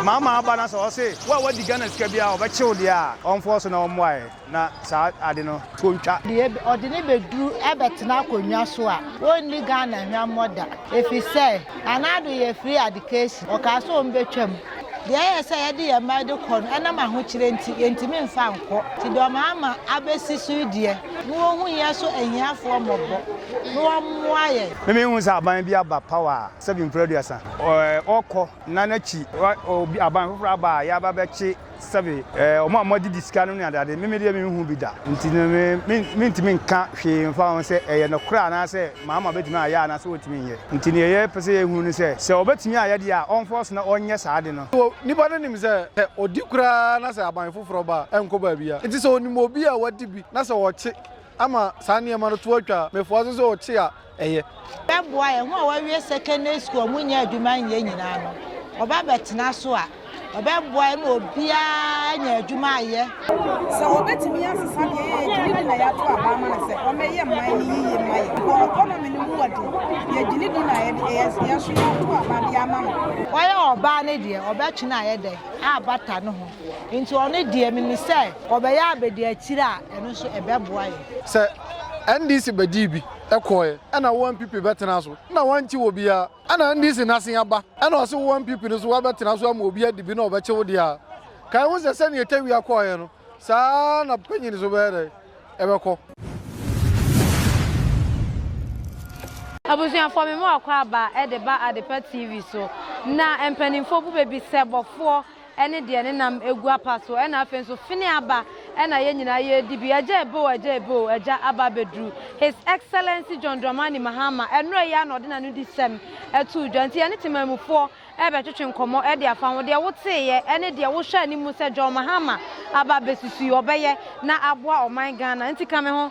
Mama aba na sɛ ɔse wo a wadi Ghana sika biara a ɔbɛkye wo deɛ a, ɔmfoɔ so na ɔmmoaɛ na saa ade no to ntwa. Deɛ ɔde no bɛduru bɛtena akonnwa so a, ɔnni Ghana hwammɔ da. Ɛfiri sɛ, Nana Addo yɛ free adecation. Ɔkaa sɛ wɔbɛtwa mu. Deɛ ɛyɛ sɛ yɛde yɛn mma de kɔ no, ɛnam ahokyerɛ nti, yɛntumi mfa nkɔ. Nti deɛ ɔmama abɛsi so yi deɛ, na wɔnhu yɛn so ahiafoɔ mmɔbɔ, na wɔmmoa yɛn. Me menhunu sɛ aban bi aba power a, sɛ bemfiri aduasa ɔkɔ. Nna n'akyi obi aban fofor aba a yɛaba bɛkye sɛbe wɔn a wɔagye sika no ne adeade. Meme deɛ menhu bi da, nti no me me mentumi nka hwee mfa ho sɛ ɛyɛ nokorɛ anaasɛ Mahama bɛtumi ayɛ anaasɛ ɔntumi nyɛ. Nti deɛ yɛpɛ sɛ yɛhu ne sɛ, sɛ ɔbɛtumi ayɛ deɛ a ɔmfa ɔso na ɔnyɛ saa ade no. Nipa no nim sɛ sɛ ɔdi koraa na sɛ aban foforɔ ba a, ɛnkɔ baabiara. Nti sɛ ɔnim obi a wadi bi na sɛ ɔkye ama saa nneɛma no to atwa a, mefoa so sɛ ɔkye a, ɛyɛ. Bɛboa yɛn. Wɔn a wɔawie secondary school a wɔnnya adwuma nyɛ nyinaa no, wɔba bɛtena so a, wɔbɛboa yɛn ma obiara anya adwuma ayɛ. Sɛ wɔbɛtumi asesa deɛ yɛyɛ gyini di na yɛato aba ama no sɛ ɔmmɛyɛ mma yi yiye mma yɛn wɔ economy no mu wɔ de, yɛ gyini di na yɛde yɛn nso yɛato aba de ama no. Ɔyɛ ɔbaa no deɛ, ɔbɛtwe no ayɛ dɛn? Abata no ho. Nti ɔno deɛ, menim sɛ ɔbɛyɛ abadiakyire a, ɛno nso ɛbɛboa yɛn. Sɛ NDC bɛdii bi. kɔɔɛ ɛna wo NPP bɛtena so na wankye wɔ biaa ɛna NDC nase aba ɛna ɔse wo NPP no so wabɛtena so ama obi adibi na ɔbɛkye wo deɛa kae ho sɛ sɛnea tawia kɔɔɛ no saa na panyin so bɛyɛ dɛn ɛbɛkɔ. Abusuafoɔ me mu akɔ aba de ba Adepa TV so na mpaninfoɔ bu bɛbi sɛ bɔfoɔ. ne deɛ ne nam gu apa so ɛna afei nso fene aba ɛna yɛn nyinaa yɛredi bi agya eboo agya eboo agya aba abɛduru his excellency John Dramani Mahama ɛnora yi a na ɔde n'ano di sɛm ɛtoo dwa nti yɛne temanmufoɔ ɛbɛtwetwe nkɔmmɔ ɛde afa ho deɛ woteeɛ ɛne deɛ wohwɛ anim sɛ John Mahama aba abɛsusu yi ɔbɛyɛ na aboa ɔman Ghana nti ka me ho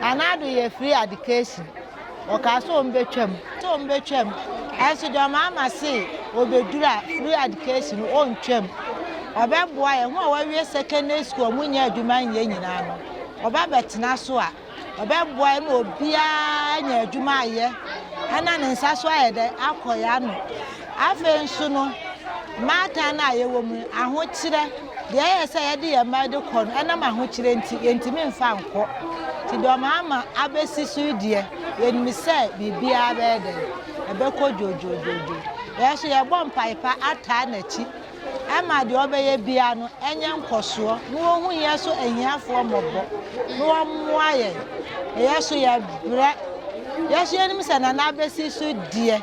Anaa do yɛ free adcation. Wɔkaa sɛ wɔbɛtwa mu. Sɛ wɔbɛtwa mu. Nanso deɛ ɔmaama se wɔbɛduru a free adcation no wɔntwa mu. Ɔbɛboa yɛn. Wɔn a wɔawie secondary school a wɔnnya adwuma nyɛ nyinaa no, ɔba bɛtena so a, ɔbɛboa yɛn ma obiara anya adwuma ayɛ na ne nsa so ayɛ dɛ akɔ yɛn ano. Afei nso no, mmaatan no a yɛwɔ mu no, ahokyerɛ. Deɛ ɛyɛ sɛ yɛde yɛn mma de kɔ no, ɛnam ahokyerɛ nti, yɛntumi mfa nkɔ. Nti deɛ wɔama abɛsi so yi deɛ, yɛnim sɛ biribiara bɛyɛ dɛn? Ɛbɛkɔ dwoodwoodwoodwoo. Yɛn nso, yɛbɔ mpaeɛ pa ataa n'akyi ma deɛ ɔbɛyɛ biara no nyɛ nkɔsoɔ, na wɔhu yɛn so ahiafoɔ mmɔbɔ, na wɔmmoa yɛn. Yɛn nso, yɛbrɛ. Yɛn nso, yɛnim sɛ Nana abɛsi so deɛ,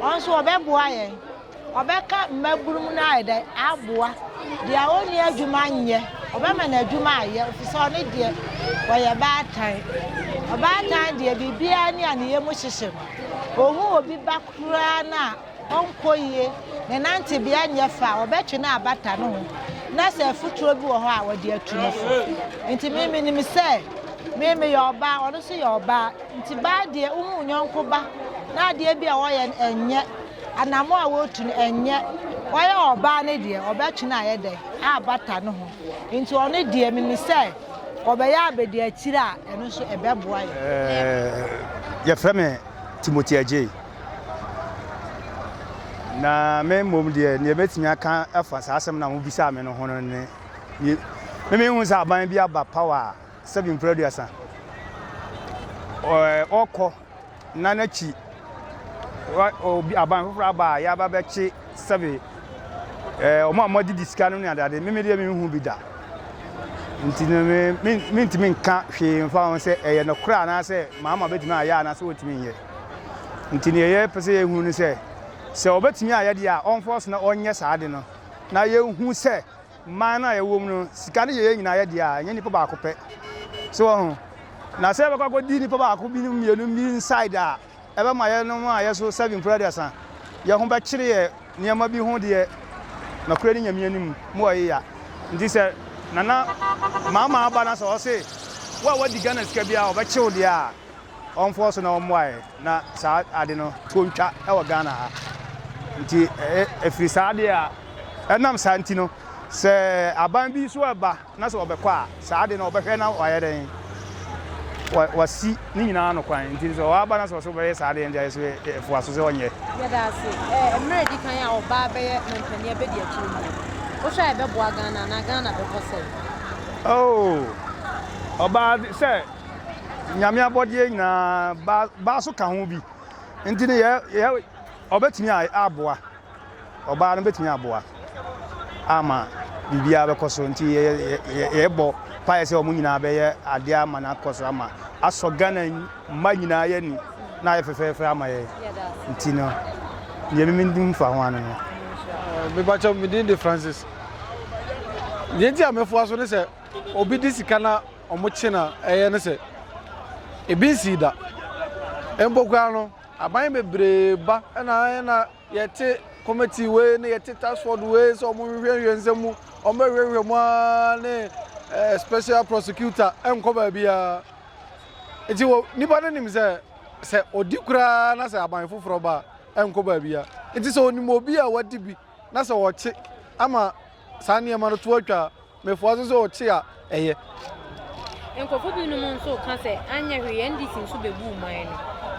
Ɔno nso ɔbɛboa yɛn. Ɔbɛka mmaburum no ayɛ dɛn aboa. Deɛ ɔnni adwuma nyɛ, ɔbɛma no adwuma ayɛ, ɛfiri sɛ ɔno deɛ ɔyɛ baatan. Ɔbaatan deɛ biribiara ni a ne yam hyehye no. Ɔhu obi ba koraa no a, ɔnkɔ yie, ne nantebea nyɛ fɛ a, ɔbɛtwe no abata ne ho, na sɛ afutuo bi wɔ hɔ a, ɔde atu ne fo. Nti me menim sɛ me meyɛ ɔbaa, ɔno nso yɛ ɔbaa. Nti baa deɛ wo ne wo yɔnko ba na adeɛ bi a wɔyɛ no ɛnyɛ, anamɔ a wɔtu no ɛnyɛ, wɔyɛ ɔbaa no deɛ ɔbɛtwe no ayɛ dɛn abata ne ho, nti ɔno deɛ menim sɛ ɔbɛyɛ abɛdi akyire a ɛno nso ɛbɛboa yɛn. Eh, yɛfrɛ me Timothy Agyei na me mmom deɛ neɛ mɛtumi aka afa saa asɛm na mobisaa me no ho no ne memehu sɛ aban bi aba power a sɛbi mpere aduasa ɛɛ ɔkɔ na n'akyi obi aban foforɔ aba a yaba bɛkye sɛbi ɛɛ wɔn a wɔadi di sika no ne adeade mímí deɛ mímí hu bi da nti no mi mi mi ntumi nka hwee nfa ho sɛ ɛyɛ nokorɛ anaasɛ maama betumi ayɛ anaasɛ wɔtumi nyɛ nti nea yɛ pɛ sɛ yɛ hu no sɛ sɛ ɔbɛtumi ayɛ deɛ a ɔnfɔ so na ɔnyɛ saa de no na yɛ hu sɛ. Man no a yɛwɔ mu no, sika no yɛ yɛn nyinaa yɛ dea, ɛnyɛ nipa baako pɛ. So wɔ ho? Na sɛ yɛbɛkɔ akɔdi nipa baako bi ne mmienu bi inside a, ɛbɛma yɛnom a yɛso seven mpo aduasa, yɛn ho bɛkyere yɛ nneɛma bi ho deɛ, nokorɛ ne Nyame anim, mo a yeya. Nti sɛ Nana Maamaa ba na sɛ ɔse, wo a woadi Ghana sika biara, ɔbɛkye wo deɛ a, ɔmfoɔ so na wɔmmoaeɛ na saa ade no to ntwa wɔ Ghana ha. Nti ɛfiri saa deɛ a ɛnam saa nti no sɛ aban bi nso ɛba na sɛ wɔbɛkɔ a saa ade no wɔbɛhwɛ na wɔayɛ dɛn wɔasi ne nyinaa no kwan nti sɛ wɔaba na sɛ wɔso bɛyɛ saa deɛ nti ayɛ so ɛfoa so sɛ wɔnyɛ. Yɛda ase. Ɛɛ mmerɛ di kan a ɔbaa bɛyɛ mampanin abɛdi akyire mu no wohwɛ a ɛbɛboa Ghana anaa Ghana bɛkɔ sɛn? Oh ɔbaa sɛ nyame abɔdeɛ nyinaa ba ba so ka ho bi nti no yɛ yɛ ɔbɛtumi aboa ɔbaa no bɛtumi aboa ama biribiara bɛkɔ so nti yɛbɔ paeɛ sɛ wɔn nyinaa bɛyɛ adeɛ ama no akɔ so ama asɔ ghana mma nyinaa yɛ ni na ayɛ fɛfɛɛfɛ ama yɛ nti no deɛ memenim fa ho ano no mebakyɛ medin de francis deɛ nti a mɛfoa so ne sɛ obi de sika na wɔkye no a ɛyɛ ne sɛ, ebi nsii da. Mpo koraa no, aban bebree ba na ayɛ na yɛte committee wei ne yɛte task force wei sɛ wɔnhwehwɛhwɛ nsɛm mu, wɔbɛhwehwɛ mu ara ne eh, special prosecutor ɛnkɔ baabiara. Nti wɔ nipa no nim sɛ sɛ ɔdi koraa na sɛ aban foforɔ ba a ɛnkɔ baabiara. Nti sɛ ɔnim obi a wadi bi na sɛ ɔkye ama saa nneɛma no to atwa a, Mefua so sɛ ɔkye a ɛyɛ. Nkurɔfo binom nso ka sɛ anyɛ hwee NDC nso bebuu man no.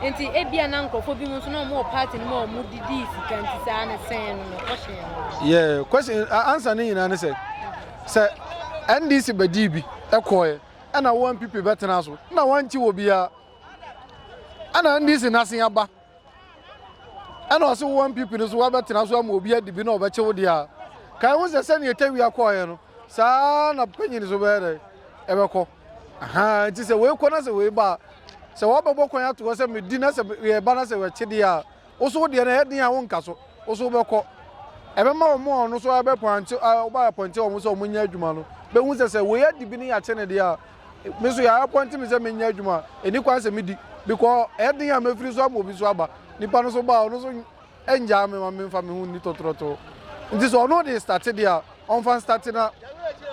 Enti ebia na nkurɔfo binom nso na wɔwɔ party no mu a wɔdidii sika nti saa no sɛn no no kɔhyɛɛ no no. Yeah, question answer ne nyinaa ne sɛ sɛ NDC bedii bi ɛkɔɛ ɛna wo NPP bɛtena so na wankye obiara ɛna NDC n'ase aba. ɛna ɔse wowɔ mpp no so woabɛtena so ama obi adi bi na ɔbɛkye wo deɛ a ka ɛho sɛ sɛnea ɛtawia kɔɔeɛ no saa na panyin so bɛyɛ dɛ ɛbɛkɔ ahaa nti sɛ wei kɔ na sɛ wei ba a sɛ wɔbɛbɔ kwan ato hɔ sɛ medi na sɛ yɛba na sɛ wɔakye deɛ a wo so wo deɛ no ɛyɛ den a wonka so wo so wobɛkɔ ɛbɛma wɔn a ɔno so ɛbɛpɔnkye wɔn a ɛpɔnkye wɔn sɛ wɔn nyɛ adwuma no bɛhu sɛ sɛ wei adi bi ne yɛakye ne deɛ a Me nso yɛapɔnte me sɛ menyɛ adwuma a ɛni kwan sɛ medi because ɛyɛ den a mɛfiri so ama obi so aba nipa no so ba a ɔno so ɛngyaa me ma memfa me ho nni tɔtorɔtoo nti sɛ ɔno de starte deɛ a ɔmfa starte na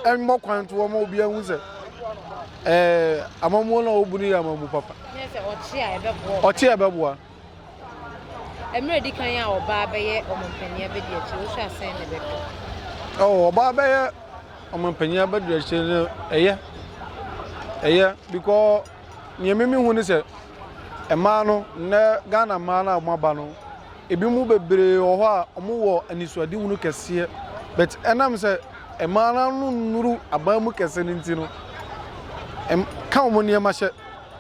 ɛmmɔ kwan to ɔma obi ahu sɛ ɛɛ amamuo no a ɔbu no yɛ amamu papa ɔkye a ɛbɛboa Mmerɛ di kan a ɔbaa bɛyɛ ɔmampanin abɛdi akyire, wohwɛ a sɛn na ɛbɛkɔ? Oh, ɔbaa bɛyɛ ɔmampanin abɛdi akyire no, ɛyɛ. Ɛyɛ, because nea mimi hu ne sɛ, mmaa no, nnɛ Ghana mmaa no a wɔaba no, ebi mu bebree wɔ hɔ a wɔwɔ anisoadehunu kɛseɛ. But ɛnam sɛ mmaa no ano nnuru aban mu kɛse no nti no, ɛm ka wɔn nneɛma hyɛ.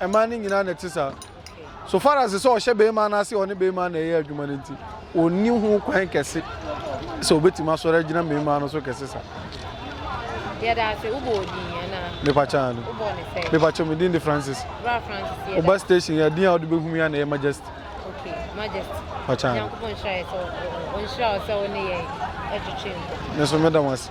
mmaa no nyinaa na ɛte saa. So far as sɛ ɔhyɛ barima no ase ɔne barima na ɛyɛ adwuma no nti, ɔnni ho kwan kɛse sɛ ɔbɛtumi asɔre agyina mmarima no so kɛse saa. Yɛda ase wobɔ odin yɛn na. Mepa kyaa no. Wobɔ ne sɛ. Mepa kyaa me din de Francis. Bra Francis yɛda. Oba station yɛ din a ɔde bɛhu ya na ɛyɛ Majesty. Okay, Majesty. Pa kyaa. Nyankopɔn nhyira yɛ sɛ ɔnhyira ɔsɛ wo ne yɛn ɛtwetwe nkɔ. Nso meda mo ase.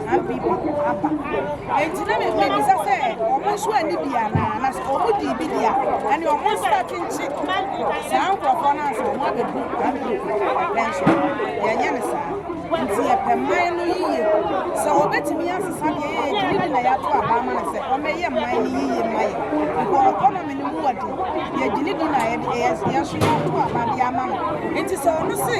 Abbey mu aba. Enti na mibisa sɛ, Wɔn nso anni bi anaa? Na sɛ wɔdii bi de a, ɛnneɛ wɔn nso bɛkyenkye saa nkurɔfoɔ no ansa na wɔabɛdu Abbey mu. Nanso yɛnyɛ no saa. Enti yɛpɛ man no yiye. Sɛ wɔbɛtumi asesa deɛ yɛyɛ de ne gyinaeɛ ato aba ama no sɛ wɔmmɛyɛ man no yiye mma yɛn, because economy no mu wɔ den, yɛgye ne di na yɛde yɛn nso yɛato aba de ama no. Enti sɛ ɔno se,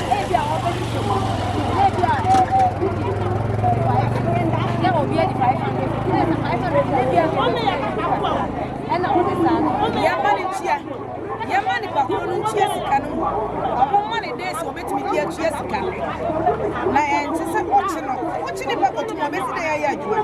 Ebia wɔbɛhwehwɛ mu. Na ebia ɛɛ wodi sɛ obi adi five hundred fifty na ɛsɛ five hundred fifty ebia ɛsɛ obi adi five hundred ɛna wɔde saa no. Yɛma ne ntua. Yɛma ne bakoro no ntua sika no mu. Wɔn ma ne days wɔbɛtumi de atua sika no. Na ɛnte sɛ ɔkye no. Wokye ne ba kɔtum a ɔbɛsi dɛ yɛyɛ adwuma.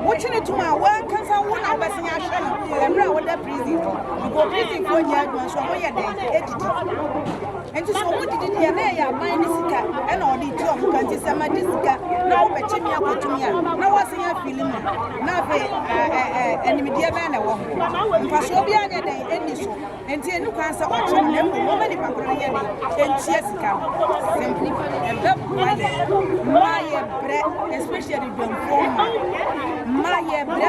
Wokye ne tum a wankasa wo na wobɛsen ahwɛ no mmerɛ a woda prison. Nkɔ prison foɔ nyɛ adwuma nso wɔyɛ dɛn? Ɛdidi. Enti sɛ ɔmo didi deɛ na ɛyɛ aban ne sika ɛna ɔde tu ɔmo ka nti sɛ ma gye sika na wobɛkye me akɔtu me a na woasen afili mu na afei animdeɛ bɛn na ɛwɔ ho mfasoɔ bi anyɛ dɛn ɛnni so enti ɛni kwan sɛ ɔkye no na mmom wɔma nipa korɔ no yɛ dɛn ɛntua sika no simple ɛbɛboa yɛ ma yɛ brɛ especially dwamfoɔ ma ma yɛ brɛ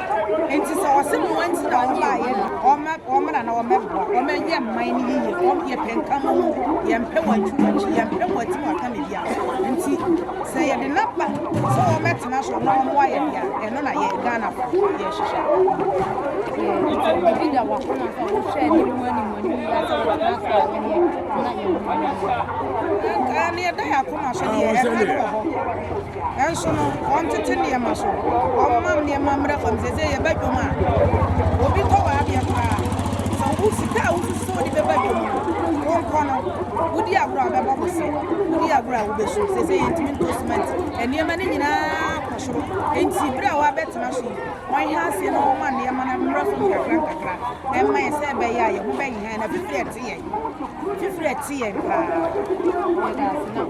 Enti sɛ ɔse mo wanti na wɔn baayɛ no, wɔma wɔmmra na wɔmmɛboa, wɔmmɛyɛ mman no yiye, wɔn yɛpɛ nka mo mu, yɛmpɛ wɔn atu wɔn akyi, yɛmpɛ wɔn ati wɔn akame bia. Enti sɛ yɛde no aba sɛ wɔmmɛtena so na wɔmmoa yɛn de a, ɛno na yɛn Ghanafo yɛhyehyɛ. Biribi da wakoma sɛ wohwɛ anim mu anim mu anim yɛ sɛ wɔbɛtena so a ɛneɛ na yɛn ho yɛ. Nka ne yɛda yɛ akoma so deɛ ɛka no wɔ hɔ. Nanso no, wɔntete nneɛma so. Wɔmma nneɛma mmra fam. Seesei yɛba dwom a, obi tɔ w'adeɛ koraa. Sɛ wo sika a wosusu sɛ wode bɛba dwom no, wonkɔ no, wodi agorɔ a wobɛbɔ bose, wodi agorɔ a wobɛsu. Seesei yɛntumi ntɔ simɛnti. Nneɛma no nyinaa kɔ soro. Enti berɛ a woabɛtena so yi, monhwɛ aseɛ na momma nneɛma no mmra fam nkakrankakra na ɛmma yɛn sɛ ɛbɛyɛ a yɛn ho bɛnha yɛn na fifire ɛte yɛn. Fifire te yɛn paa. Yɛda ase na.